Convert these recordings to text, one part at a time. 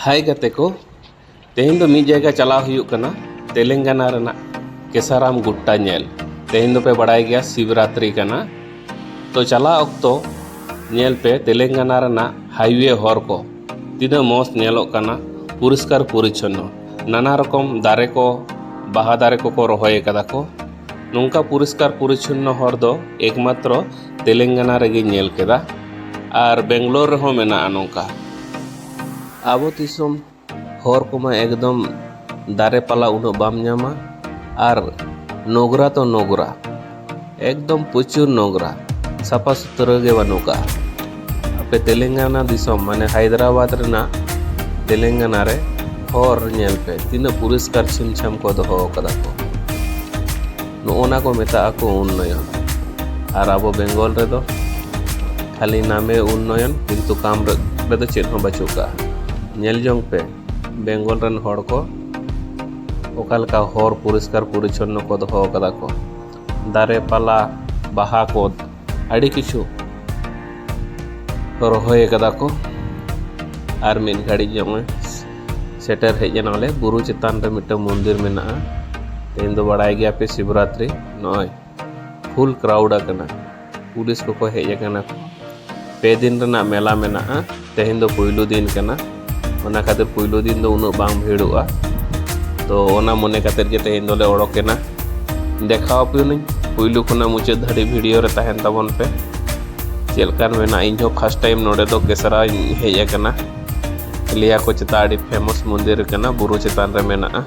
ᱦᱟᱭ ᱜᱟᱛᱮ ᱠᱚ ᱛᱮᱦᱮᱧ ᱫᱚ ᱢᱤᱫ ᱡᱟᱭᱜᱟ ᱪᱟᱞᱟᱣ ᱦᱩᱭᱩᱜ ᱠᱟᱱᱟ ᱛᱮᱞᱮᱝᱜᱟᱱᱟ ᱨᱮᱱᱟᱜ ᱠᱮᱥᱟᱨᱟᱢ ᱜᱩᱴᱴᱟ ᱧᱮᱞ ᱛᱮᱦᱮᱧ ᱫᱚᱯᱮ ᱵᱟᱲᱟᱭ ᱜᱮᱭᱟ ᱥᱤᱵᱨᱟᱛᱨᱤ ᱠᱟᱱᱟ ᱛᱚ ᱪᱟᱞᱟᱜ ᱚᱠᱛᱚ ᱧᱮᱞ ᱯᱮ ᱛᱮᱞᱮᱝᱜᱟᱱᱟ ᱨᱮᱱᱟᱜ ᱦᱟᱭᱣᱮ ᱦᱚᱨ ᱠᱚ ᱛᱤᱱᱟᱹᱜ ᱢᱚᱡᱽ ᱧᱮᱞᱚᱜ ᱠᱟᱱᱟ ᱯᱚᱨᱤᱥᱠᱟᱨ ᱯᱚᱨᱤᱪᱷᱚᱱᱱᱚ ᱱᱟᱱᱟ ᱨᱚᱠᱚᱢ ᱫᱟᱨᱮ ᱠᱚ ᱵᱟᱦᱟ ᱫᱟᱨᱮ ᱠᱚᱠᱚ ᱨᱚᱦᱚᱭ ᱠᱟᱫᱟ ᱠᱚ ᱱᱚᱝᱠᱟ ᱯᱚᱨᱤᱥᱠᱟᱨ ᱯᱚᱨᱤᱪᱷᱚᱱᱱᱚ ᱦᱚᱨ ᱫᱚ ᱮᱠᱢᱟᱛᱨᱚ ᱛᱮᱞᱮᱝᱜᱟᱱᱟ ᱨᱮᱜᱮᱧ ᱧᱮᱞ ᱠᱮᱫᱟ ᱟᱨ ᱵᱮᱝᱜᱞᱳᱨ ᱨᱮᱦᱚᱸ ᱢᱮᱱᱟᱜᱼᱟ ᱱᱚᱝᱠᱟ ᱟᱵᱚ ᱫᱤᱥᱚᱢ ᱦᱚᱨ ᱠᱚᱢᱟ ᱮᱠᱫᱚᱢ ᱫᱟᱨᱮ ᱯᱟᱞᱟ ᱩᱱᱟᱹᱜ ᱵᱟᱢ ᱧᱟᱢᱟ ᱟᱨ ᱱᱚᱜᱽᱨᱟ ᱛᱚ ᱱᱚᱜᱽᱨᱟ ᱮᱠᱫᱚᱢ ᱯᱨᱚᱪᱩᱨ ᱱᱚᱜᱽᱨᱟ ᱥᱟᱯᱷᱟ ᱥᱩᱛᱨᱟᱹ ᱜᱮ ᱵᱟᱹᱱᱩᱜ ᱠᱟᱜᱼᱟ ᱟᱯᱮ ᱛᱮᱞᱮᱝᱜᱟᱱᱟ ᱫᱤᱥᱚᱢ ᱢᱟᱱᱮ ᱦᱟᱭᱫᱨᱟᱵᱟᱫᱽ ᱨᱮᱱᱟᱜ ᱛᱮᱞᱮᱝᱜᱟᱱᱟ ᱨᱮ ᱦᱚᱨ ᱧᱮᱞ ᱯᱮ ᱛᱤᱱᱟᱹᱜ ᱯᱚᱨᱤᱥᱠᱟᱨ ᱪᱷᱤᱢ ᱪᱷᱟᱢ ᱠᱚ ᱫᱚᱦᱚ ᱠᱟᱫᱟ ᱠᱚ ᱱᱚᱜᱼᱚᱱᱟ ᱠᱚ ᱢᱮᱛᱟᱜ ᱟᱠᱚ ᱩᱱᱱᱚᱭᱚᱱ ᱟᱨ ᱟᱵᱚ ᱵᱮᱝᱜᱚᱞ ᱨᱮᱫᱚ ᱠᱷᱟᱹᱞᱤ ᱱᱟᱢᱮ ᱩᱱᱱᱚᱭᱚᱱ ᱠᱤᱱᱛᱩ ᱠᱟᱢ ᱨᱮᱫᱚ ᱪᱮᱫ ᱦᱚᱸ ᱵᱟᱹᱪᱩᱜ ᱠᱟᱜᱼᱟ ᱧᱮᱞ ᱡᱚᱝ ᱯᱮ ᱵᱮᱝᱜᱚᱞ ᱨᱮᱱ ᱦᱚᱲ ᱠᱚ ᱚᱠᱟ ᱞᱮᱠᱟ ᱦᱚᱨ ᱯᱚᱨᱤᱥᱠᱟᱨ ᱯᱚᱨᱤᱪᱷᱚᱱᱱᱚ ᱠᱚ ᱫᱚᱦᱚ ᱠᱟᱫᱟ ᱠᱚ ᱫᱟᱨᱮ ᱯᱟᱞᱟ ᱵᱟᱦᱟ ᱠᱚ ᱟᱹᱰᱤ ᱠᱤᱪᱷᱩ ᱨᱚᱦᱚᱭ ᱠᱟᱫᱟ ᱠᱚ ᱟᱨ ᱢᱤᱫ ᱜᱷᱟᱹᱲᱤᱡ ᱡᱚᱢᱮ ᱥᱮᱴᱮᱨ ᱦᱮᱡ ᱮᱱᱟᱞᱮ ᱵᱩᱨᱩ ᱪᱮᱛᱟᱱ ᱨᱮ ᱢᱤᱫᱴᱟᱝ ᱢᱚᱱᱫᱤᱨ ᱢᱮᱱᱟᱜᱼᱟ ᱛᱮᱦᱮᱧ ᱫᱚ ᱵᱟᱲᱟᱭ ᱜᱮᱭᱟ ᱯᱮ ᱥᱤᱵᱨᱟᱛᱨᱤ ᱱᱚᱜᱼᱚᱭ ᱯᱷᱩᱞ ᱠᱨᱟᱣᱩᱰ ᱟᱠᱟᱱᱟ ᱯᱩᱞᱤᱥ ᱠᱚᱠᱚ ᱦᱮᱡ ᱟᱠᱟᱱᱟ ᱯᱮ ᱫᱤᱱ ᱨᱮᱱᱟᱜ ᱢᱮᱞᱟ ᱢᱮᱱᱟᱜᱼᱟ ᱛᱮᱦᱮᱧ ᱫᱚ ᱯᱩᱭᱞᱩ ᱫᱤᱱ ᱠᱟᱱᱟ ᱚᱱᱟ ᱠᱷᱟᱹᱛᱤᱨ ᱯᱩᱭᱞᱩ ᱫᱤᱱ ᱫᱚ ᱩᱱᱟᱹᱜ ᱵᱟᱝ ᱵᱷᱤᱲᱚᱜᱼᱟ ᱛᱚ ᱚᱱᱟ ᱢᱚᱱᱮ ᱠᱟᱛᱮ ᱜᱮ ᱛᱮᱦᱮᱧ ᱫᱚᱞᱮ ᱚᱰᱚᱠᱮᱱᱟ ᱫᱮᱠᱷᱟᱣ ᱟᱯᱮᱭᱟᱹᱧ ᱯᱩᱭᱞᱩ ᱠᱷᱚᱱᱟᱜ ᱢᱩᱪᱟᱹᱫ ᱫᱷᱟᱹᱨᱤᱡ ᱵᱷᱤᱰᱤᱭᱳ ᱨᱮ ᱛᱟᱦᱮᱱ ᱛᱟᱵᱚᱱ ᱯᱮ ᱪᱮᱫ ᱞᱮᱠᱟᱱ ᱢᱮᱱᱟᱜᱼᱟ ᱤᱧ ᱦᱚᱸ ᱯᱷᱟᱥᱴ ᱴᱟᱭᱤᱢ ᱱᱚᱰᱮ ᱫᱚ ᱠᱮᱥᱨᱟᱧ ᱦᱮᱡ ᱟᱠᱟᱱᱟ ᱞᱟᱹᱭᱟᱠᱚ ᱪᱮᱛᱟ ᱟᱹᱰᱤ ᱯᱷᱮᱢᱚᱥ ᱢᱚᱱᱫᱤᱨ ᱠᱟᱱᱟ ᱵᱩᱨᱩ ᱪᱮᱛᱟᱱ ᱨᱮ ᱢᱮᱱᱟᱜᱼᱟ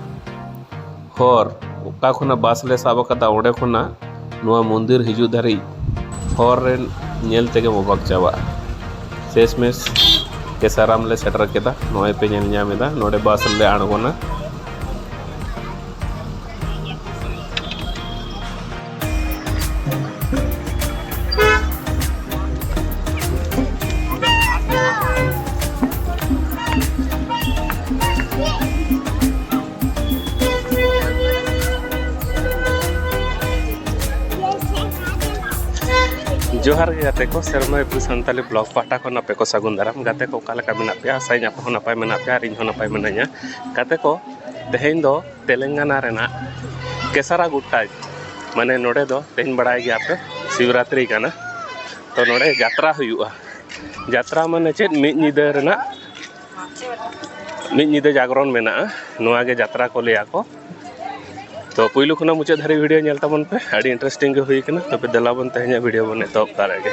ᱦᱚᱨ ᱚᱠᱟ ᱠᱷᱚᱱᱟᱜ ᱵᱟᱥ ᱞᱮ ᱥᱟᱵ ᱠᱟᱫᱟ ᱚᱸᱰᱮ ᱠᱷᱚᱱᱟᱜ ᱱᱚᱣᱟ ᱢᱚᱱᱫᱤᱨ ᱦᱤᱡᱩᱜ ᱫᱷᱟᱹᱨᱤᱡ ᱦᱚᱨ ᱨᱮ ᱧᱮᱞ ᱛᱮᱜᱮᱢ ᱚᱵᱟᱠ ᱪᱟᱵᱟᱜᱼᱟ ᱥᱮᱥ ᱢᱮᱥ ᱠᱮᱥᱟᱨᱟᱢ ᱞᱮ ᱥᱮᱴᱮᱨ ᱠᱮᱫᱟ ᱱᱚᱜᱼᱚᱸᱭ ᱯᱮ ᱧᱮᱞ ᱧᱟᱢ ᱮᱫᱟ ᱱᱚᱰᱮ ᱵᱟᱥ ᱨᱮᱞᱮ ᱟᱬᱜᱚᱱᱟ ᱡᱚᱦᱟᱨ ᱜᱮ ᱜᱟᱛᱮ ᱠᱚ ᱥᱮᱨᱢᱟ ᱮᱯᱨᱤ ᱥᱟᱱᱛᱟᱞᱤ ᱵᱞᱚᱜ ᱯᱟᱦᱴᱟ ᱠᱷᱚᱱ ᱟᱯᱮ ᱠᱚ ᱥᱟᱹᱜᱩᱱ ᱫᱟᱨᱟᱢ ᱜᱟᱛᱮ ᱠᱚ ᱚᱠᱟ ᱞᱮᱠᱟ ᱢᱮᱱᱟᱜ ᱯᱮᱭᱟ ᱟᱥᱟᱭᱟᱹᱧ ᱟᱯᱮ ᱦᱚᱸ ᱱᱟᱯᱟᱭ ᱢᱮᱱᱟᱜ ᱯᱮᱭᱟ ᱟᱨ ᱤᱧ ᱦᱚᱸ ᱱᱟᱯᱟᱭ ᱢᱤᱱᱟᱹᱧᱟ ᱜᱟᱛᱮ ᱠᱚ ᱛᱮᱦᱮᱧ ᱫᱚ ᱛᱮᱞᱮᱝᱜᱟᱱᱟ ᱨᱮᱱᱟᱜ ᱠᱮᱥᱟᱨᱟ ᱜᱩᱴᱴᱟ ᱢᱟᱱᱮ ᱱᱚᱰᱮ ᱫᱚ ᱛᱮᱦᱮᱧ ᱵᱟᱲᱟᱭ ᱜᱮᱭᱟ ᱯᱮ ᱥᱤᱵᱨᱟᱛᱨᱤ ᱠᱟᱱᱟ ᱛᱚ ᱱᱚᱰᱮ ᱡᱟᱛᱨᱟ ᱦᱩᱭᱩᱜᱼᱟ ᱡᱟᱛᱨᱟ ᱢᱟᱱᱮ ᱪᱮᱫ ᱢᱤᱫ ᱧᱤᱫᱟᱹ ᱨᱮᱱᱟᱜ ᱢᱤᱫ ᱧᱤᱫᱟᱹ ᱡᱟᱜᱽᱨᱚᱱ ᱢᱮᱱᱟᱜᱼᱟ ᱱᱚᱣᱟ ᱜᱮ ᱡᱟᱛᱨᱟ ᱠᱚ ᱞᱟᱹᱭᱟ ᱠᱚ ᱛᱚ ᱯᱩᱭᱞᱩ ᱠᱷᱚᱱᱟᱜ ᱢᱩᱪᱟᱹᱫ ᱫᱷᱟᱹᱨᱤᱡ ᱵᱷᱤᱰᱤᱭᱳ ᱧᱮᱞ ᱛᱟᱵᱚᱱ ᱯᱮ ᱟᱹᱰᱤ ᱤᱱᱴᱟᱨᱮᱥᱴᱤᱝ ᱜᱮ ᱦᱩᱭ ᱠᱟᱱᱟ ᱛᱚᱵᱮ ᱫᱮᱞᱟ ᱵᱚᱱ ᱛᱮᱦᱮᱧᱟᱜ ᱵᱷᱤᱰᱤᱭᱳ ᱵᱚᱱ ᱮᱛᱚᱦᱚᱵ ᱫᱟᱲᱮᱭᱟᱜ ᱜᱮ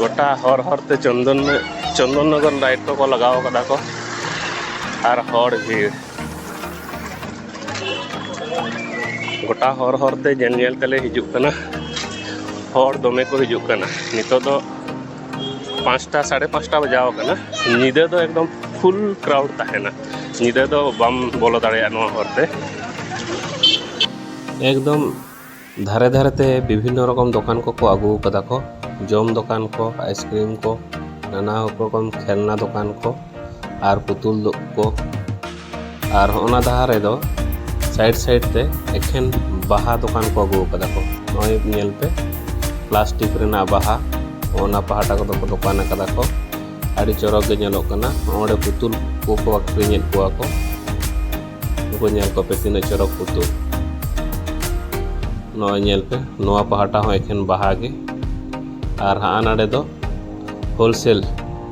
ᱜᱚᱴᱟ ᱦᱚᱨ ᱦᱚᱨᱛᱮ ᱪᱚᱱᱫᱚᱱ ᱪᱚᱱᱫᱚᱱ ᱱᱚᱜᱚᱨ ᱞᱟᱭᱤᱴ ᱠᱚᱠᱚ ᱞᱟᱜᱟᱣ ᱠᱟᱫᱟ ᱠᱚ ᱟᱨ ᱦᱚᱲ ᱵᱷᱤᱲ ᱜᱚᱴᱟ ᱦᱚᱨ ᱦᱚᱨᱛᱮ ᱧᱮᱞ ᱧᱮᱞ ᱛᱮᱞᱮ ᱦᱤᱡᱩᱜ ᱠᱟᱱᱟ ᱦᱚᱲ ᱫᱚᱢᱮ ᱠᱚ ᱦᱤᱡᱩᱜ ᱠᱟᱱᱟ ᱱᱤᱛᱚᱜ ᱫᱚ ᱯᱟᱸᱪᱴᱟ ᱥᱟᱲᱮ ᱯᱟᱸᱪᱴᱟ ᱵᱟᱡᱟᱣ ᱟᱠᱟᱱᱟ ᱧᱤᱫᱟᱹ ᱫᱚ ᱮᱠᱫᱚᱢ ᱯᱷᱩᱞ ᱠᱨᱟᱣᱩᱰ ᱛᱟᱦᱮᱱᱟ ᱧᱤᱫᱟᱹ ᱫᱚ ᱵᱟᱢ ᱵᱚᱞᱚ ᱫᱟᱲᱮᱭᱟᱜᱼᱟ ᱱᱚᱣᱟ ᱦᱚᱨ ᱛᱮ ᱮᱠᱫᱚᱢ ᱫᱷᱟᱨᱮ ᱫᱷᱟᱨᱮ ᱛᱮ ᱵᱤᱵᱷᱤᱱᱱᱚ ᱨᱚᱠᱚᱢ ᱫᱚᱠᱟᱱ ᱠᱚᱠᱚ ᱟᱹᱜᱩ ᱠᱟᱫᱟ ᱠᱚ ᱡᱚᱢ ᱫᱚᱠᱟᱱ ᱠᱚ ᱟᱭᱤᱥᱠᱨᱤᱢ ᱠᱚ ᱱᱟᱱᱟ ᱨᱚᱠᱚᱢ ᱠᱷᱮᱞᱱᱟ ᱫᱚᱠᱟᱱ ᱠᱚ ᱟᱨ ᱯᱩᱛᱩᱞ ᱫᱚ ᱠᱚ ᱟᱨ ᱦᱚᱸᱜᱼᱱᱟ ᱫᱟᱦᱟ ᱨᱮᱫᱚ ᱥᱟᱭᱤᱰ ᱥᱟᱭᱤᱰ ᱛᱮ ᱮᱠᱷᱮᱱ ᱵᱟᱦᱟ ᱫᱚᱠᱟᱱ ᱠᱚ ᱟᱹᱜᱩ ᱟᱠᱟᱫᱟ ᱠᱚ ᱱᱚᱜᱼᱚᱭ ᱧᱮᱞ ᱯᱮ ᱯᱞᱟᱥᱴᱤᱠ ᱨᱮᱱᱟᱜ ᱵᱟᱦᱟ ᱚᱱᱟ ᱯᱟᱦᱴᱟ ᱠᱚᱫᱚ ᱠᱚ ᱫᱚᱠᱟᱱ ᱟᱠᱟᱫᱟ ᱠᱚ ᱟᱹᱰᱤ ᱪᱚᱨᱚᱠ ᱜᱮ ᱧᱮᱞᱚᱜ ᱠᱟᱱᱟ ᱱᱚᱸᱰᱮ ᱯᱩᱛᱩᱞ ᱠᱚᱠᱚ ᱟᱹᱠᱷᱨᱤᱧᱮᱫ ᱠᱚᱣᱟ ᱠᱚ ᱱᱩᱠᱩ ᱧᱮᱞ ᱠᱚᱯᱮ ᱛᱤᱱᱟᱹᱜ ᱪᱚᱨᱚᱠ ᱯᱩᱛᱩᱞ ᱱᱚᱜᱼᱚᱭ ᱧᱮᱞ ᱯᱮ ᱱᱚᱣᱟ ᱯᱟᱦᱴᱟ ᱦᱚᱸ ᱮᱠᱷᱮᱱ ᱵᱟᱦᱟ ᱜᱮ ᱟᱨ ᱦᱟᱸᱜ ᱱᱟᱰᱮ ᱫᱚ ᱦᱳᱞᱥᱮᱞ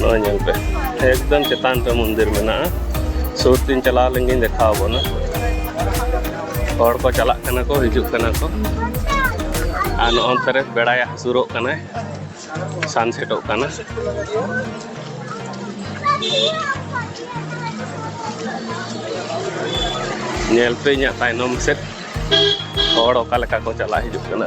ᱱᱚᱜᱼᱚᱭ ᱧᱮᱞ ᱯᱮ ᱮᱠᱫᱚᱢ ᱪᱮᱛᱟᱱ ᱨᱮ ᱢᱚᱱᱫᱤᱨ ᱢᱮᱱᱟᱜᱼᱟ ᱥᱩᱨ ᱛᱤᱧ ᱪᱟᱞᱟᱣ ᱞᱮᱱ ᱜᱤᱧ ᱫᱮᱠᱷᱟᱣ ᱟᱵᱚᱱᱟ ᱦᱚᱲ ᱠᱚ ᱪᱟᱞᱟᱜ ᱠᱟᱱᱟ ᱠᱚ ᱦᱤᱡᱩᱜ ᱠᱟᱱᱟ ᱠᱚ ᱟᱨ ᱱᱚᱜᱼᱚ ᱱᱚᱛᱮ ᱨᱮ ᱵᱮᱲᱟᱭ ᱦᱟᱹᱥᱩᱨᱚᱜ ᱠᱟᱱᱟᱭ ᱥᱟᱱᱥᱮᱴᱚᱜ ᱠᱟᱱᱟ ᱧᱮᱞ ᱯᱮ ᱤᱧᱟᱹᱜ ᱛᱟᱭᱱᱚᱢ ᱥᱮᱫ ᱦᱚᱲ ᱚᱠᱟ ᱞᱮᱠᱟ ᱠᱚ ᱪᱟᱞᱟᱜ ᱦᱤᱡᱩᱜ ᱠᱟᱱᱟ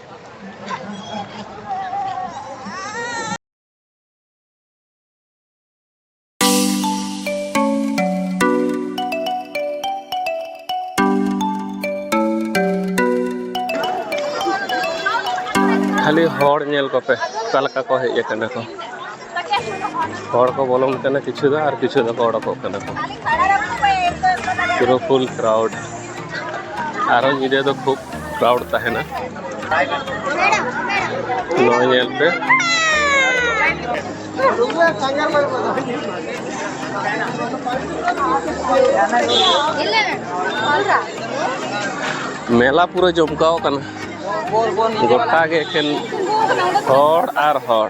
ᱠᱷᱟᱹᱞᱤ ᱦᱚᱲ ᱧᱮᱞ ᱠᱚᱯᱮ ᱚᱠᱟ ᱞᱮᱠᱟ ᱠᱚ ᱦᱮᱡ ᱟᱠᱟᱱᱟ ᱠᱚ ᱦᱚᱲ ᱠᱚ ᱵᱚᱞᱚᱱ ᱠᱟᱱᱟ ᱠᱤᱪᱷᱩ ᱫᱚ ᱟᱨ ᱠᱤᱪᱷᱩ ᱫᱚᱠᱚ ᱚᱰᱚᱠᱚᱜ ᱠᱟᱱᱟ ᱠᱚ ᱯᱩᱨᱟᱹ ᱯᱷᱩᱞ ᱠᱨᱟᱣᱰ ᱟᱨᱚ ᱧᱤᱫᱟᱹ ᱫᱚ ᱠᱷᱩᱵ ᱠᱨᱟᱣᱰ ᱛᱟᱦᱮᱱᱟ ᱱᱚᱣᱟ ᱧᱮᱞ ᱯᱮ ᱢᱮᱞᱟ ᱯᱩᱨᱟᱹ ᱡᱚᱢᱠᱟᱣ ᱠᱟᱱᱟ ᱜᱚᱴᱟ ᱜᱮ ᱮᱠᱷᱮᱱ ᱦᱚᱲ ᱟᱨ ᱦᱚᱲ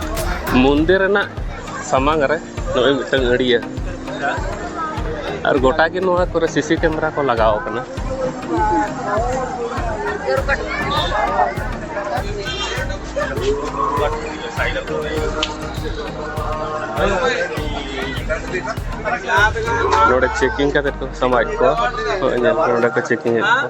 ᱢᱚᱱᱫᱤᱨ ᱨᱮᱱᱟᱜ ᱥᱟᱢᱟᱝ ᱨᱮ ᱱᱚᱜᱼᱚᱭ ᱢᱤᱫᱴᱟᱝ ᱟᱹᱲᱤᱭᱟᱹ ᱟᱨ ᱜᱚᱴᱟ ᱜᱮ ᱱᱚᱣᱟ ᱠᱚᱨᱮ ᱥᱤᱥᱤ ᱠᱮᱢᱮᱨᱟ ᱠᱚ ᱞᱟᱜᱟᱣ ᱠᱟᱱᱟ ᱱᱚᱰᱮ ᱪᱮᱠᱤᱝ ᱠᱟᱛᱮ ᱠᱚ ᱥᱟᱢᱟᱣᱮᱫ ᱠᱚᱣᱟ ᱱᱚᱜᱼᱚᱭ ᱧᱮᱞ ᱯᱮ ᱱᱚᱰᱮ ᱠᱚ ᱪᱮᱠᱤᱝ ᱮᱫ ᱠᱚᱣᱟ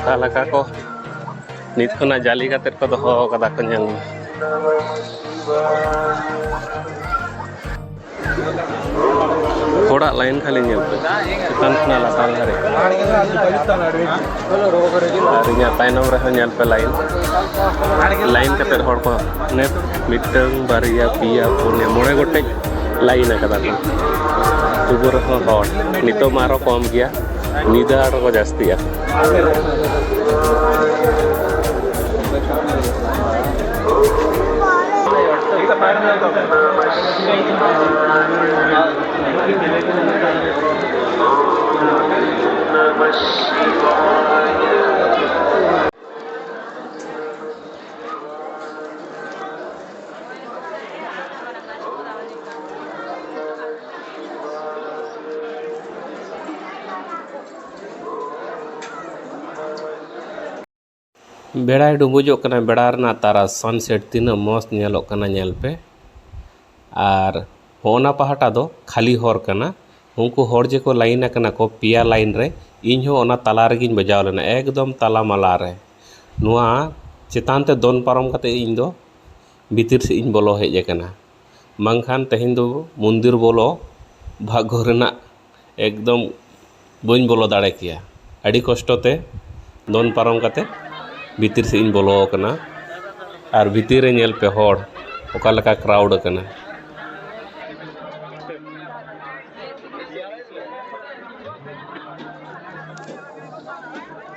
ᱚᱠᱟ ᱞᱮᱠᱟ ᱠᱚ ᱱᱤᱛ ᱠᱷᱚᱱᱟᱜ ᱡᱟᱞᱤ ᱠᱟᱛᱮ ᱠᱚ ᱫᱚᱦᱚ ᱠᱟᱫᱟ ᱠᱚ ᱧᱮᱞ ᱢᱮ ᱦᱚᱲᱟᱜ ᱞᱟᱭᱤᱱ ᱠᱷᱟᱹᱞᱤ ᱧᱮᱞ ᱯᱮ ᱪᱮᱛᱟᱱ ᱠᱷᱚᱱᱟᱜ ᱞᱟᱛᱟᱨ ᱫᱷᱟᱹᱨᱤᱡ ᱟᱨ ᱤᱧᱟᱹᱜ ᱛᱟᱭᱱᱚᱢ ᱨᱮᱦᱚᱸ ᱧᱮᱞ ᱯᱮ ᱞᱟᱭᱤᱱ ᱞᱟᱭᱤᱱ ᱠᱟᱛᱮ ᱦᱚᱲ ᱠᱚ ᱢᱤᱫᱴᱟᱹᱝ ᱵᱟᱨᱭᱟ ᱯᱮᱭᱟ ᱯᱩᱱᱭᱟ ᱢᱚᱬᱮ ᱜᱚᱴᱮᱡ ᱞᱟᱭᱤᱱ ᱟᱠᱟᱫᱟ ᱠᱚ ᱛᱚᱵᱩ ᱨᱮᱦᱚᱸ ᱦᱚᱲ ᱱᱤᱛᱚᱜ ᱢᱟ ᱟᱨᱦᱚᱸ ᱠᱚᱢ ᱜᱮᱭᱟ ᱧᱤᱫᱟᱹ ᱟᱨᱦᱚᱸ ᱠᱚ ᱡᱟᱹᱥᱛᱤᱜᱼᱟ ᱵᱮᱲᱟᱭ ᱰᱩᱵᱩᱡᱚᱜ ᱠᱟᱱᱟ ᱵᱮᱲᱟ ᱨᱮᱱᱟᱜ ᱛᱟᱨᱟ ᱥᱟᱱᱥᱮᱴ ᱛᱤᱱᱟᱹᱜ ᱢᱚᱡᱽ ᱧᱮᱞᱚᱜ ᱠᱟᱱᱟ ᱧᱮᱞ ᱯᱮ ᱟᱨ ᱦᱚᱸᱜᱼᱱᱟ ᱯᱟᱦᱴᱟ ᱫᱚ ᱠᱷᱟᱹᱞᱤ ᱦᱚᱨ ᱠᱟᱱᱟ ᱩᱱᱠᱩ ᱦᱚᱲ ᱡᱮᱠᱚ ᱞᱟᱭᱤᱱ ᱟᱠᱟᱱᱟ ᱠᱚ ᱯᱮᱭᱟ ᱞᱟᱭᱤᱱ ᱨᱮ ᱤᱧ ᱦᱚᱸ ᱚᱱᱟ ᱛᱟᱞᱟ ᱨᱮᱜᱮᱧ ᱵᱟᱡᱟᱣ ᱞᱮᱱᱟ ᱮᱠᱫᱚᱢ ᱛᱟᱞᱟ ᱢᱟᱞᱟ ᱨᱮ ᱱᱚᱣᱟ ᱪᱮᱛᱟᱱ ᱛᱮ ᱫᱚᱱ ᱯᱟᱨᱚᱢ ᱠᱟᱛᱮ ᱤᱧ ᱫᱚ ᱵᱷᱤᱛᱤᱨ ᱥᱮᱫ ᱤᱧ ᱵᱚᱞᱚ ᱦᱮᱡ ᱟᱠᱟᱱᱟ ᱵᱟᱝᱠᱷᱟᱱ ᱛᱮᱦᱮᱧ ᱫᱚ ᱢᱚᱱᱫᱤᱨ ᱵᱚᱞᱚ ᱵᱷᱟᱜᱽᱜᱚ ᱨᱮᱱᱟᱜ ᱮᱠᱫᱚᱢ ᱵᱟᱹᱧ ᱵᱚᱞᱚ ᱫᱟᱲᱮ ᱠᱮᱭᱟ ᱟᱹᱰᱤ ᱠᱚᱥᱴᱚ ᱛᱮ ᱫᱚᱱ ᱯᱟᱨᱚᱢ ᱠᱟᱛᱮ ᱵᱷᱤᱛᱤᱨ ᱥᱮᱫ ᱤᱧ ᱵᱚᱞᱚ ᱟᱠᱟᱱᱟ ᱟᱨ ᱵᱷᱤᱛᱤᱨ ᱨᱮ ᱧᱮᱞ ᱯᱮ ᱦᱚᱲ ᱚᱠᱟ ᱞᱮᱠᱟ ᱠᱨᱟᱣᱩᱰ ᱟᱠᱟᱱᱟ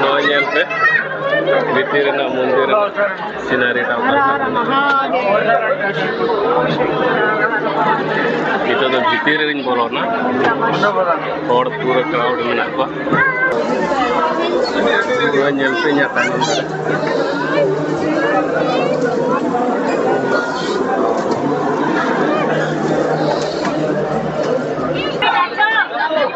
ᱱᱚᱣᱟ ᱧᱮᱞ ᱯᱮ ᱵᱷᱤᱛᱤᱨ ᱨᱮᱱᱟᱜ ᱢᱚᱱᱫᱤᱨ ᱥᱤᱱᱟᱨᱤ ᱴᱟᱜ ᱱᱤᱛᱚᱜ ᱫᱚ ᱵᱷᱤᱛᱤᱨ ᱨᱮᱧ ᱵᱚᱞᱚᱱᱟ ᱦᱚᱲ ᱯᱩᱨᱟᱹ ᱠᱨᱟᱣᱰ ᱢᱮᱱᱟᱜ ᱠᱚᱣᱟ ᱱᱚᱣᱟ ᱧᱮᱞ ᱯᱮ ᱤᱧᱟᱹᱜ ᱛᱟᱭᱱᱚᱢ ᱨᱮ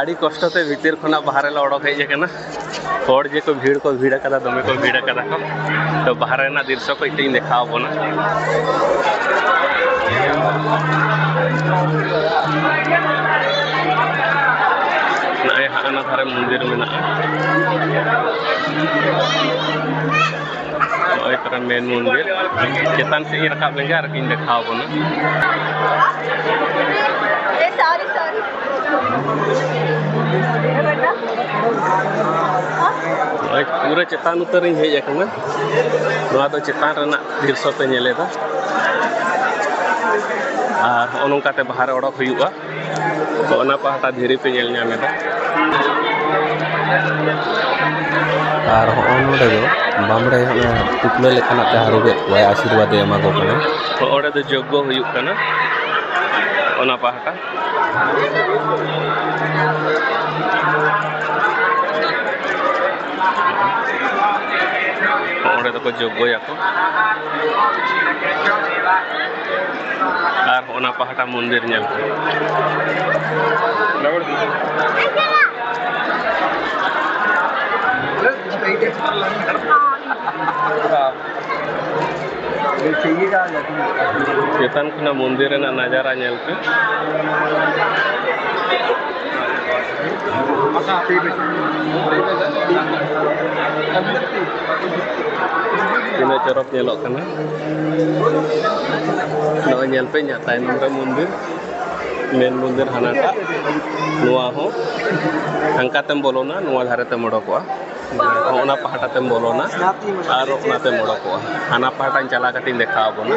ᱟᱹᱰᱤ ᱠᱚᱥᱴᱚ ᱛᱮ ᱵᱷᱤᱛᱤᱨ ᱠᱷᱚᱱᱟᱜ ᱵᱟᱦᱨᱮ ᱞᱮ ᱚᱰᱚᱠ ᱦᱮᱡ ᱟᱠᱟᱱᱟ ᱦᱚᱲ ᱡᱮ ᱠᱚ ᱵᱷᱤᱲ ᱠᱚ ᱵᱷᱤᱲ ᱟᱠᱟᱫᱟ ᱫᱚᱢᱮ ᱠᱚ ᱵᱷᱤᱲ ᱟᱠᱟᱫᱟ ᱠᱚ ᱛᱚ ᱵᱟᱦᱨᱮ ᱨᱮᱱᱟᱜ ᱫᱨᱤᱥᱥᱚ ᱠᱚ ᱤᱧ ᱫᱮᱠᱷᱟᱣ ᱵᱚᱱᱟ ᱱᱚᱜᱼᱚᱭ ᱦᱟᱸᱜ ᱚᱱᱟ ᱫᱷᱟᱨᱮ ᱢᱚᱱᱫᱤᱨ ᱢᱮᱱᱟᱜᱼᱟ ᱱᱚᱜᱼᱚᱭ ᱛᱟᱨᱟ ᱢᱮᱱ ᱢᱚᱱᱫᱤᱨ ᱪᱮᱛᱟᱱ ᱥᱮᱫ ᱤᱧ ᱨᱟᱠᱟᱵ ᱞᱮᱱᱜᱮ ᱟᱨ ᱠᱤᱧ ᱫᱮᱠᱷᱟᱣ ᱵᱚᱱᱟ ᱥᱟᱨᱤ ᱥᱟᱨᱤ ᱱᱚᱜᱼᱚᱭ ᱯᱩᱨᱟᱹ ᱪᱮᱛᱟᱱ ᱩᱛᱟᱹᱨᱤᱧ ᱦᱮᱡ ᱟᱠᱟᱱᱟ ᱱᱚᱣᱟ ᱫᱚ ᱪᱮᱛᱟᱱ ᱨᱮᱱᱟᱜ ᱫᱨᱤᱥᱥᱚ ᱯᱮ ᱧᱮᱞᱮᱫᱟ ᱟᱨ ᱱᱚᱜᱼᱚ ᱱᱚᱝᱠᱟᱛᱮ ᱵᱟᱦᱟᱨᱮ ᱚᱰᱚᱠ ᱦᱩᱭᱩᱜᱼᱟ ᱛᱚ ᱚᱱᱟ ᱯᱟᱦᱴᱟ ᱫᱷᱤᱨᱤ ᱯᱮ ᱧᱮᱞ ᱧᱟᱢ ᱮᱫᱟ ᱟᱨ ᱦᱚᱸᱜᱼᱚ ᱱᱚᱰᱮ ᱫᱚ ᱵᱟᱢᱲᱮ ᱚᱱᱟ ᱴᱩᱯᱞᱟᱹ ᱞᱮᱠᱟᱱᱟᱜ ᱛᱮ ᱦᱟᱹᱨᱩᱵᱮᱫ ᱠᱚᱣᱟᱭ ᱟᱥᱤᱨᱵᱟᱫᱽ ᱮ ᱮᱢᱟ ᱠᱚ ᱠᱟᱱᱟ ᱛᱚ ᱚᱸᱰᱮ ᱫᱚ ᱡᱚᱜᱽᱜᱚ ᱦᱩᱭᱩᱜ ᱠᱟᱱᱟ ᱚᱱᱟ ᱯᱟᱦᱴᱟ ᱚᱸᱰᱮ ᱫᱚᱠᱚ ᱡᱚᱜᱽᱜᱚᱭᱟᱠᱚ ᱟᱨ ᱚᱱᱟ ᱯᱟᱦᱴᱟ ᱢᱚᱱᱫᱤᱨ ᱧᱮᱞ ᱯᱮ ᱪᱮᱛᱟᱱ ᱠᱷᱚᱱᱟᱜ ᱢᱚᱱᱫᱤᱨ ᱨᱮᱱᱟᱜ ᱱᱟᱡᱟᱨᱟ ᱧᱮᱞ ᱯᱮ ᱛᱤᱱᱟᱹᱜ ᱪᱚᱨᱚᱠ ᱧᱮᱞᱚᱜ ᱠᱟᱱᱟ ᱱᱚᱜᱼᱚᱭ ᱧᱮᱞ ᱯᱮ ᱤᱧᱟᱹᱜ ᱛᱟᱭᱱᱚᱢ ᱨᱮ ᱢᱚᱱᱫᱤᱨ ᱢᱮᱱ ᱢᱚᱱᱫᱤᱨ ᱦᱟᱱᱟᱴᱟᱜ ᱱᱚᱣᱟ ᱦᱚᱸ ᱦᱟᱱᱠᱟ ᱛᱮᱢ ᱵᱚᱞᱚᱱᱟ ᱱᱚᱣᱟ ᱫᱷᱟᱨᱮ ᱛᱮᱢ ᱚᱰᱚᱠᱚᱜᱼᱟ ᱚᱱᱟ ᱯᱟᱦᱴᱟ ᱛᱮᱢ ᱵᱚᱞᱚᱱᱟ ᱟᱨ ᱚᱱᱟ ᱛᱮᱢ ᱚᱰᱚᱠᱚᱜᱼᱟ ᱦᱟᱱᱟ ᱯᱟᱦᱴᱟᱧ ᱪᱟᱞᱟᱣ ᱠᱟᱛᱮᱧ ᱫᱮᱠᱷᱟᱣ ᱟᱵᱚᱱᱟ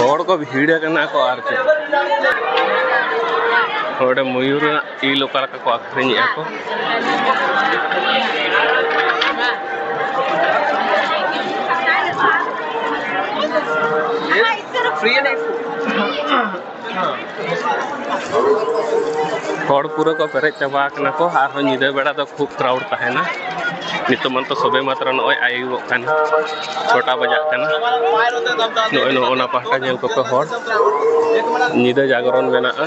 ᱦᱚᱲ ᱠᱚ ᱵᱷᱤᱲ ᱟᱠᱟᱱᱟ ᱠᱚ ᱟᱨ ᱪᱮᱫ ᱱᱚᱰᱮ ᱢᱚᱭᱩᱨ ᱨᱮᱱᱟᱜ ᱤᱞ ᱚᱠᱟ ᱞᱮᱠᱟ ᱠᱚ ᱟᱹᱠᱷᱨᱤᱧᱮᱫᱼᱟ ᱠᱚ Free and ᱦᱚᱲ ᱯᱩᱨᱟᱹ ᱠᱚ ᱯᱮᱨᱮᱡ ᱪᱟᱵᱟ ᱟᱠᱟᱱᱟ ᱠᱚ ᱟᱨᱦᱚᱸ ᱧᱤᱫᱟᱹ ᱵᱮᱲᱟ ᱫᱚ ᱠᱷᱩᱵ ᱠᱨᱟᱣᱩᱰ ᱛᱟᱦᱮᱱᱟ ᱱᱤᱛᱚᱜ ᱢᱟᱛᱚ ᱥᱚᱵᱮ ᱢᱟᱛᱨᱚ ᱱᱚᱜᱼᱚᱭ ᱟᱹᱭᱩᱵᱚᱜ ᱠᱟᱱᱟ ᱪᱷᱚᱴᱟ ᱵᱟᱡᱟᱜ ᱠᱟᱱᱟ ᱱᱚᱜᱼᱚᱭ ᱱᱚᱜᱼᱚ ᱚᱱᱟ ᱯᱟᱦᱴᱟ ᱧᱮᱞ ᱠᱚᱯᱮ ᱦᱚᱲ ᱧᱤᱫᱟᱹ ᱡᱟᱜᱽᱨᱚᱱ ᱢᱮᱱᱟᱜᱼᱟ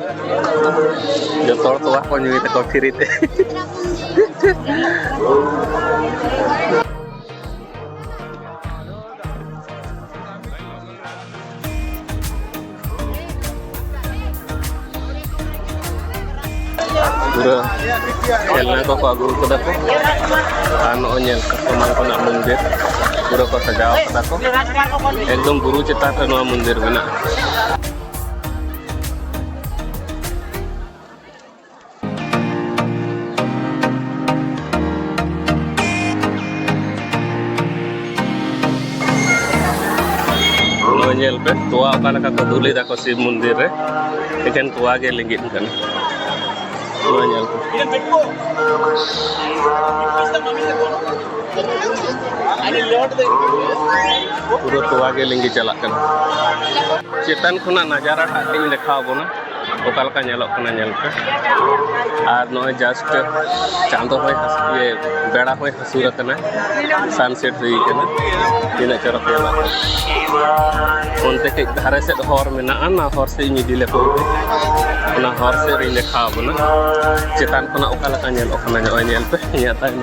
ᱡᱚᱛᱚ ᱦᱚᱲ ᱛᱚᱣᱟ ᱠᱚ ᱧᱩᱭ ᱛᱟᱠᱚ ᱯᱷᱤᱨᱤ ᱛᱮ ᱯᱩᱨᱟᱹ ᱠᱷᱮᱞᱱᱟ ᱠᱚᱠᱚ ᱟᱹᱜᱩ ᱠᱟᱫᱟ ᱠᱚ ᱟᱨ ᱱᱚᱜᱼᱚᱭ ᱧᱮᱞ ᱠᱟᱥᱴᱚᱢᱟᱨ ᱠᱚᱱᱟᱜ ᱢᱚᱱᱫᱤᱨ ᱯᱩᱨᱟᱹ ᱠᱚ ᱥᱟᱡᱟᱣ ᱠᱟᱫᱟ ᱠᱚ ᱮᱠᱫᱚᱢ ᱵᱩᱨᱩ ᱪᱮᱛᱟᱱ ᱨᱮ ᱱᱚᱣᱟ ᱢᱚᱱᱫᱤᱨ ᱢᱮᱱᱟᱜᱼᱟ ᱧᱮᱞ ᱯᱮ ᱛᱚᱣᱟ ᱚᱠᱟ ᱞᱮᱠᱟ ᱠᱚ ᱫᱩᱞ ᱮᱫᱟ ᱠᱚ ᱥᱤᱵ ᱢᱚᱱᱫᱤᱨ ᱨᱮ ᱮᱠᱮᱱ ᱛᱚᱣᱟ ᱜᱮ ᱞᱤᱸᱜᱤᱱ ᱠᱟᱱᱟ ᱱᱚᱣᱟ ᱧᱮᱞ ᱯᱮ ᱯᱩᱨᱟᱹ ᱛᱚᱣᱟ ᱜᱮ ᱞᱤᱸᱜᱤ ᱪᱟᱞᱟᱜ ᱠᱟᱱᱟ ᱪᱮᱛᱟᱱ ᱠᱷᱚᱱᱟᱜ ᱱᱟᱡᱟᱨᱟ ᱴᱟᱜ ᱛᱤᱧ ᱫᱮᱠᱷᱟᱣ ᱵᱚᱱᱟ ᱚᱠᱟ ᱞᱮᱠᱟ ᱧᱮᱞᱚᱜ ᱠᱟᱱᱟ ᱧᱮᱞ ᱯᱮ ᱟᱨ ᱱᱚᱜᱼᱚᱭ ᱡᱟᱥᱴ ᱪᱟᱸᱫᱚ ᱦᱚᱭ ᱤᱭᱟᱹ ᱵᱮᱲᱟ ᱦᱚᱭ ᱦᱟᱹᱥᱩᱨ ᱟᱠᱟᱱᱟ ᱥᱟᱱᱥᱮᱴ ᱦᱩᱭ ᱠᱟᱱᱟ ᱛᱤᱱᱟᱹᱜ ᱪᱚᱨᱚᱠ ᱧᱮᱞᱚᱜ ᱠᱟᱱᱟ ᱚᱱᱛᱮ ᱠᱟᱹᱡ ᱫᱷᱟᱨᱮ ᱥᱮᱫ ᱦᱚᱨ ᱢᱮᱱᱟᱜᱼᱟ ᱚᱱᱟ ᱦᱚᱨ ᱥᱮᱫ ᱤᱧ ᱤᱫᱤ ᱞᱮᱠᱚ ᱚᱱᱟ ᱦᱚᱨ ᱥᱮᱫ ᱨᱤᱧ ᱫᱮᱠᱷᱟᱣ ᱵᱚᱱᱟ ᱪᱮᱛᱟᱱ ᱠᱷᱚᱱᱟᱜ ᱚᱠᱟ ᱞᱮᱠᱟ ᱧᱮᱞᱚᱜ ᱠᱟᱱᱟ ᱱᱚᱜᱼᱚᱭ ᱧᱮᱞ ᱯᱮ ᱤᱧᱟᱹᱜ ᱛᱟᱭᱱᱚᱢ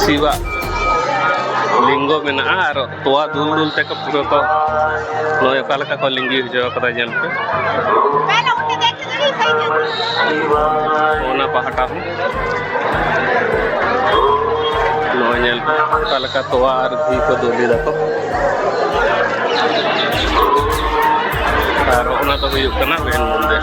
ᱥᱤᱵᱟᱜ ᱞᱤᱝᱜᱚ ᱢᱮᱱᱟᱜᱼᱟ ᱟᱨ ᱛᱚᱣᱟ ᱫᱩᱞ ᱫᱩᱞ ᱛᱮᱠᱚ ᱯᱩᱨᱟᱹ ᱠᱚ ᱱᱚᱜᱼᱚᱭ ᱚᱠᱟ ᱞᱮᱠᱟ ᱠᱚ ᱞᱤᱸᱜᱤ ᱦᱚᱪᱚ ᱠᱟᱫᱟ ᱧᱮᱞ ᱯᱮ ᱚᱱᱟ ᱯᱟᱦᱴᱟ ᱦᱚᱸ ᱱᱚᱜᱼᱚᱭ ᱧᱮᱞ ᱯᱮ ᱚᱠᱟ ᱞᱮᱠᱟ ᱛᱚᱣᱟ ᱟᱨ ᱜᱷᱤ ᱠᱚ ᱫᱩᱞ ᱮᱫᱟ ᱠᱚ ᱟᱨ ᱚᱱᱟ ᱫᱚ ᱦᱩᱭᱩᱜ ᱠᱟᱱᱟ ᱢᱮᱱ ᱢᱚᱱᱫᱤᱨ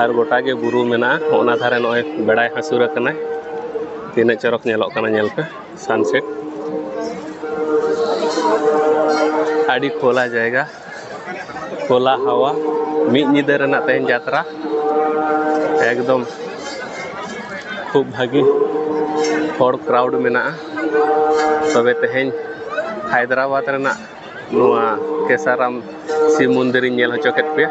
ᱟᱨ ᱜᱚᱴᱟ ᱜᱮ ᱵᱩᱨᱩ ᱢᱮᱱᱟᱜᱼᱟ ᱚᱱᱟ ᱫᱷᱟᱨᱮ ᱱᱚᱜᱼᱚᱭ ᱵᱮᱲᱟᱭ ᱦᱟᱹᱥᱩᱨ ᱟᱠᱟᱱᱟ ᱛᱤᱱᱟᱹᱜ ᱪᱚᱨᱚᱠ ᱧᱮᱞᱚᱜ ᱠᱟᱱᱟ ᱧᱮᱞ ᱯᱮ ᱥᱟᱱᱥᱮᱴ ᱟᱹᱰᱤ ᱠᱷᱳᱞᱟ ᱡᱟᱭᱜᱟ ᱠᱷᱳᱞᱟ ᱦᱟᱣᱟ ᱢᱤᱫ ᱧᱤᱫᱟᱹ ᱨᱮᱱᱟᱜ ᱛᱮᱦᱮᱧ ᱡᱟᱛᱨᱟ ᱮᱠᱫᱚᱢ ᱠᱷᱩᱵ ᱵᱷᱟᱹᱜᱤ ᱦᱚᱲ ᱠᱨᱟᱣᱩᱰ ᱢᱮᱱᱟᱜᱼᱟ ᱛᱚᱵᱮ ᱛᱮᱦᱮᱧ ᱦᱟᱭᱫᱨᱟᱵᱟᱫᱽ ᱨᱮᱱᱟᱜ ᱱᱚᱣᱟ ᱠᱮᱥᱟᱨᱟᱢ ᱥᱤᱵ ᱢᱚᱱᱫᱤᱨᱤᱧ ᱧᱮᱞ ᱦᱚᱪᱚ ᱠᱮᱫ ᱯᱮᱭᱟ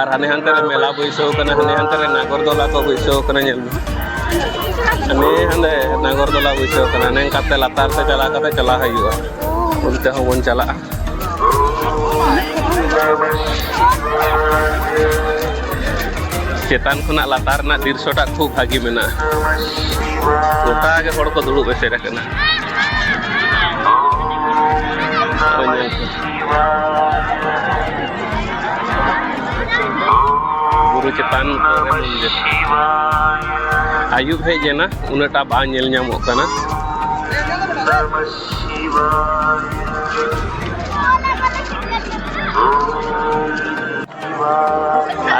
ᱟᱨ ᱦᱟᱱᱮ ᱦᱟᱱᱛᱮ ᱨᱮ ᱢᱮᱞᱟ ᱵᱟᱹᱭᱥᱟᱹᱣ ᱠᱟᱱᱟ ᱦᱟᱱᱮ ᱦᱟᱱᱛᱮ ᱨᱮ ᱱᱟᱜᱚᱨᱫᱚᱞᱟ ᱠᱚ ᱵᱟᱹᱭᱥᱟᱹᱣ ᱠᱟᱱᱟ ᱧᱮᱞ ᱢᱮ ᱦᱟᱱᱮ ᱦᱟᱸᱰᱮ ᱱᱟᱜᱚᱨᱫᱚᱞᱟ ᱵᱟᱹᱭᱥᱟᱹᱣ ᱠᱟᱱᱟ ᱦᱟᱱᱮ ᱚᱱᱠᱟᱛᱮ ᱞᱟᱛᱟᱨ ᱛᱮ ᱪᱟᱞᱟᱣ ᱠᱟᱛᱮ ᱪᱟᱞᱟᱣ ᱦᱩᱭᱩᱜᱼᱟ ᱚᱱᱛᱮ ᱦᱚᱸᱵᱚᱱ ᱪᱟᱞᱟᱜᱼᱟ ᱪᱮᱛᱟᱱ ᱠᱷᱚᱱᱟᱜ ᱞᱟᱛᱟᱨ ᱨᱮᱱᱟᱜ ᱫᱨᱤᱥᱥᱚᱴᱟ ᱠᱷᱩᱵ ᱵᱷᱟᱹᱜᱤ ᱢᱮᱱᱟᱜᱼᱟ ᱜᱚᱴᱟ ᱜᱮ ᱦᱚᱲ ᱠᱚ ᱫᱩᱲᱩᱵ ᱮᱥᱮᱫ ᱟᱠᱟᱱᱟ ᱵᱩᱨᱩ ᱪᱮᱛᱟᱱ ᱠᱚᱨᱮ ᱢᱚᱱᱫᱤᱨ ᱟᱭᱩᱵ ᱦᱮᱡ ᱮᱱᱟ ᱩᱱᱟᱹᱜᱴᱟ ᱵᱟᱝ ᱧᱮᱞ ᱧᱟᱢᱚᱜ ᱠᱟᱱᱟ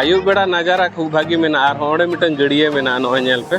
ᱟᱭᱩᱵ ᱵᱮᱲᱟ ᱱᱟᱡᱟᱨᱟ ᱠᱷᱩᱵ ᱵᱷᱟᱜᱤ ᱢᱮᱱᱟᱜᱼᱟ ᱟᱨ ᱦᱚᱸ ᱚᱸᱰᱮ ᱢᱤᱫᱴᱟᱝ ᱜᱟᱹᱰᱭᱟᱹ ᱢᱮᱱᱟᱜᱼᱟ ᱱᱚᱜᱼᱚᱭ ᱧᱮᱞ ᱯᱮ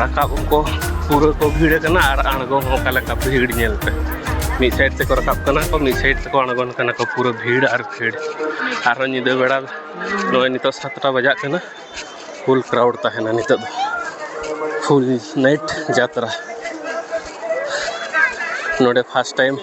ᱨᱟᱠᱟᱵ ᱠᱚ ᱯᱩᱨᱟᱹ ᱠᱚ ᱵᱷᱤᱲ ᱠᱟᱱᱟ ᱟᱨ ᱟᱬᱜᱚ ᱦᱚᱸ ᱚᱠᱟ ᱞᱮᱠᱟ ᱵᱷᱤᱲ ᱧᱮᱞ ᱯᱮ ᱢᱤᱫ ᱥᱟᱭᱤᱰ ᱛᱮᱠᱚ ᱨᱟᱠᱟᱵ ᱠᱟᱱᱟ ᱠᱚ ᱢᱤᱫ ᱥᱟᱭᱤᱰ ᱛᱮᱠᱚ ᱟᱬᱜᱚᱱ ᱠᱟᱱᱟ ᱠᱚ ᱯᱩᱨᱟᱹ ᱵᱷᱤᱲ ᱟᱨ ᱵᱷᱤᱲ ᱟᱨᱦᱚᱸ ᱧᱤᱫᱟᱹ ᱵᱮᱲᱟ ᱱᱚᱜᱼᱚᱭ ᱱᱤᱛᱚᱜ ᱥᱟᱛᱴᱟ ᱵᱟᱡᱟᱜ ᱠᱟᱱᱟ ᱯᱷᱩᱞ ᱠᱨᱟᱣᱩᱰ ᱛᱟᱦᱮᱱᱟ ᱱᱤᱛᱚᱜ ᱫᱚ ᱯᱷᱩᱞ ᱱᱟᱭᱤᱴ ᱡᱟᱛᱨᱟ ᱱᱚᱰᱮ ᱯᱷᱟᱥᱴ ᱴᱟᱭᱤᱢ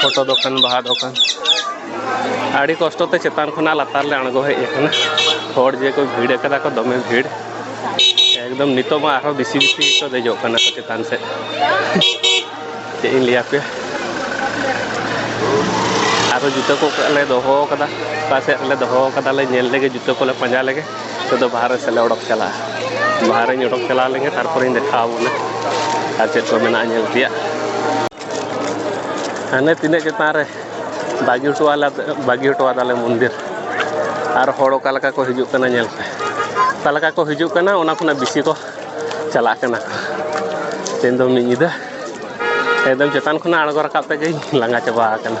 ᱯᱷᱳᱴᱳ ᱫᱚᱠᱟᱱ ᱵᱟᱦᱟ ᱫᱚᱠᱟᱱ ᱟᱹᱰᱤ ᱠᱚᱥᱴᱚ ᱛᱮ ᱪᱮᱛᱟᱱ ᱠᱷᱚᱱᱟᱜ ᱞᱟᱛᱟᱨ ᱞᱮ ᱟᱬᱜᱚ ᱦᱮᱡ ᱟᱠᱟᱱᱟ ᱦᱚᱲ ᱡᱮ ᱠᱚ ᱵᱷᱤᱲ ᱟᱠᱟᱫᱟ ᱠᱚ ᱫᱚᱢᱮ ᱵᱷᱤᱲ ᱮᱠᱫᱚᱢ ᱱᱤᱛᱚᱜ ᱢᱟ ᱟᱨᱦᱚᱸ ᱵᱮᱥᱤ ᱵᱮᱥᱤ ᱠᱚ ᱫᱮᱡᱚᱜ ᱠᱟᱱᱟ ᱠᱚ ᱪᱮᱛᱟᱱ ᱥᱮᱫ ᱪᱮᱫ ᱤᱧ ᱞᱟᱹᱭ ᱟᱯᱮᱭᱟ ᱟᱨᱦᱚᱸ ᱡᱩᱛᱟᱹ ᱠᱚ ᱞᱮ ᱫᱚᱦᱚ ᱟᱠᱟᱫᱟ ᱚᱠᱟ ᱥᱮᱫ ᱨᱮᱞᱮ ᱫᱚᱦᱚ ᱟᱠᱟᱫᱟ ᱞᱮ ᱧᱮᱞ ᱞᱮᱜᱮ ᱡᱩᱛᱟᱹ ᱠᱚᱞᱮ ᱯᱟᱸᱡᱟ ᱞᱮᱜᱮ ᱱᱤᱛᱚᱜ ᱫᱚ ᱵᱟᱦᱨᱮ ᱥᱮᱫ ᱞᱮ ᱚᱰᱚᱠ ᱪᱟᱞᱟᱜᱼᱟ ᱵᱟᱦᱨᱮᱧ ᱚᱰᱚᱠ ᱪᱟᱞᱟᱣ ᱞᱮᱱᱜᱮ ᱛᱟᱨᱯᱚᱨᱮᱧ ᱫᱮᱠᱷᱟᱣ ᱟᱵᱚᱱᱟ ᱟᱨ ᱪᱮᱫ ᱠᱚ ᱢᱮᱱᱟᱜᱼᱟ ᱧᱮᱞ ᱛᱮᱭᱟᱜ ᱦᱟᱱᱮ ᱛᱤᱱᱟᱹᱜ ᱪᱮᱛᱟᱱ ᱨᱮ ᱵᱟᱹᱜᱤ ᱦᱚᱴᱚ ᱟᱞᱮ ᱵᱟᱹᱜᱤ ᱦᱚᱴᱚ ᱟᱫᱟᱞᱮ ᱢᱚᱱᱫᱤᱨ ᱟᱨ ᱦᱚᱲ ᱚᱠᱟ ᱞᱮᱠᱟ ᱠᱚ ᱦᱤᱡᱩᱜ ᱠᱟᱱᱟ ᱧᱮᱞ ᱯᱮ ᱚᱠᱟ ᱞᱮᱠᱟ ᱠᱚ ᱦᱤᱡᱩᱜ ᱠᱟᱱᱟ ᱚᱱᱟ ᱠᱷᱚᱱᱟᱜ ᱵᱮᱥᱤ ᱠᱚ ᱪᱟᱞᱟᱜ ᱠᱟᱱᱟ ᱛᱮᱦᱮᱧ ᱫᱚ ᱢᱤᱫ ᱧᱤᱫᱟᱹ ᱮᱠᱫᱚᱢ ᱪᱮᱛᱟᱱ ᱠᱷᱚᱱᱟᱜ ᱟᱬᱜᱚ ᱨᱟᱠᱟᱵ ᱛᱮᱜᱮᱧ ᱞᱟᱸᱜᱟ ᱪᱟᱵᱟ ᱟᱠᱟᱱᱟ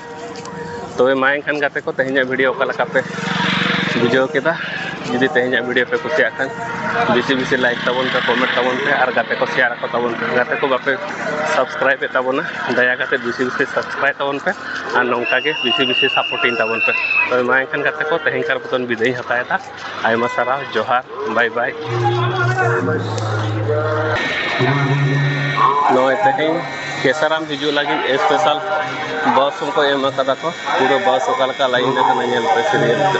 ᱛᱚᱵᱮ ᱢᱟ ᱮᱱᱠᱷᱟᱱ ᱜᱟᱛᱮ ᱠᱚ ᱛᱮᱦᱮᱧᱟᱜ ᱵᱷᱤᱰᱤᱭᱳ ᱚᱠᱟ ᱞᱮᱠᱟ ᱯᱮ ᱵᱩᱡᱷᱟᱹᱣ ᱠᱮᱫᱟ ᱡᱩᱫᱤ ᱛᱮᱦᱮᱧᱟᱜ ᱵᱷᱤᱰᱤᱭᱳ ᱯᱮ ᱠᱩᱥᱤᱭᱟᱜ ᱠᱷᱟᱱ ᱵᱮᱥᱤ ᱵᱮᱥᱤ ᱞᱟᱭᱤᱠ ᱛᱟᱵᱚᱱ ᱯᱮ ᱠᱚᱢᱮᱱᱴ ᱛᱟᱵᱚᱱ ᱯᱮ ᱟᱨ ᱜᱟᱛᱮ ᱠᱚ ᱥᱮᱭᱟᱨ ᱟᱠᱚ ᱛᱟᱵᱚᱱ ᱯᱮ ᱜᱟᱛᱮ ᱠᱚ ᱵᱟᱯᱮ ᱥᱟᱵᱥᱠᱨᱟᱭᱤᱵ ᱮᱫ ᱛᱟᱵᱚᱱᱟ ᱫᱟᱭᱟ ᱠᱟᱛᱮ ᱵᱮᱥᱤ ᱵᱮᱥᱤ ᱥᱟᱵᱥᱠᱨᱟᱭᱤᱵ ᱛᱟᱵᱚᱱ ᱯᱮ ᱟᱨ ᱱᱚᱝᱠᱟ ᱜᱮ ᱵᱮᱥᱤ ᱵᱮᱥᱤ ᱥᱟᱯᱳᱨᱴᱤᱝ ᱛᱟᱵᱚᱱ ᱯᱮ ᱛᱚᱵᱮ ᱢᱟ ᱮᱱᱠᱷᱟᱱ ᱜᱟᱛᱮ ᱠᱚ ᱛᱮᱦᱮᱧᱠᱟᱨ ᱢᱚᱛᱚᱱ ᱵᱤᱫᱟᱹᱭᱤᱧ ᱦᱟᱛᱟᱣᱮᱫᱟ ᱟᱭᱢᱟ ᱥᱟᱨᱦᱟᱣ ᱡᱚᱦᱟᱨ ᱵᱟᱭ ᱵᱟᱭ ᱱᱚᱜᱼᱚᱭ ᱛᱮᱦᱮᱧ ᱠᱮᱥᱟᱨᱟᱢ ᱦᱤᱡᱩᱜ ᱞᱟᱹᱜᱤᱫ ᱥᱯᱮᱥᱟᱞ ᱵᱟᱥ ᱦᱚᱸᱠᱚ ᱮᱢ ᱟᱠᱟᱫᱟ ᱠᱚ ᱯᱩᱨᱟᱹ ᱵᱟᱥ ᱚᱠᱟ ᱞᱮᱠᱟ ᱞᱟᱭᱤᱱ ᱟᱠᱟᱱᱟ ᱧᱮᱞ ᱯᱮ ᱥᱤᱨᱤᱭᱟᱞ ᱛᱮ